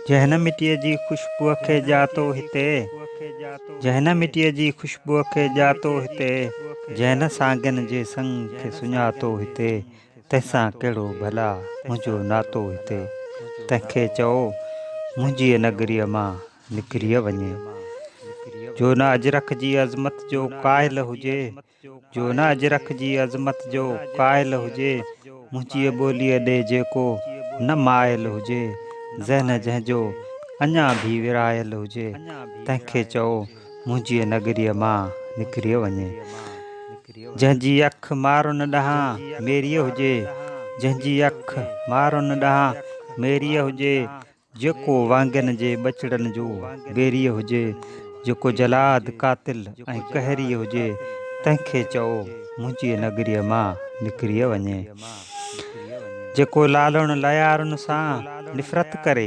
جنھن مٽيء جي خوشبوء کي ڄاتو هتي، جنھن مٽيء جي خوشبوء کي ڄاتو هتي، جنھن سانگين جي سڱ کي سڃاتو هتي، تنھن سان ڪهڙو ڀلا منھنجو ناتو هتي. تنھن کي چئو منھنجيء نگريء مان نڪري وڃي. جو نه اجرڪ جي عظمت جو قائل هجي. جو نه اجرڪ جي عظمت جو قائل هجي، منهنجيء ٻوليء ڏي جيڪو نه مائل هجي، ذهن جنهن جو اڃا ڀي ورهايل هجي، تنهن کي چئو منهنجيء نگريء مان نڪري وڃي. جنهن جي اک مارن ڏانهن ميريء هجي، جنهن جي اک مارن ڏانهن ميريء هجي، جيڪو وانگين جي ٻچڙن جو ويريء هجي، جيڪو جلاد، قاتل ۽ قهريء هجي، تنهن کي چئو منهنجيء نگريء مان نڪري وڃي. جيڪو لالڻ ليارن سان نفرت ڪري،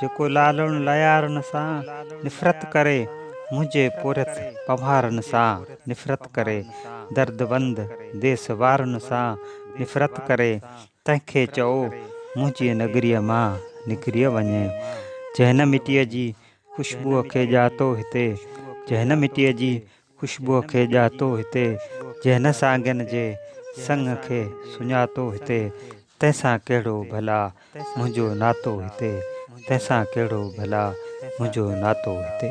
جيڪو لالڻ ليارن سان نفرت ڪري، منهنجي پورهيت پنهارن سان نفرت ڪري، درد وند ديس وارن سان نفرت ڪري، تنهن کي چئو منهنجيء نگريء مان نڪري وڃي، جنهن مٽيء جي خوشبوء کي ڄاتو هتي، جنهن مٽيء جي خوشبوء کي ڄاتو هتي، جنهن سانگين جي سڱ کي سڃاتو هتي، تنهن سان ڪهڙو ڀلا منهنجو ناتو هتي، تنهن سان ڪهڙو ڀلا منهنجو ناتو هتي.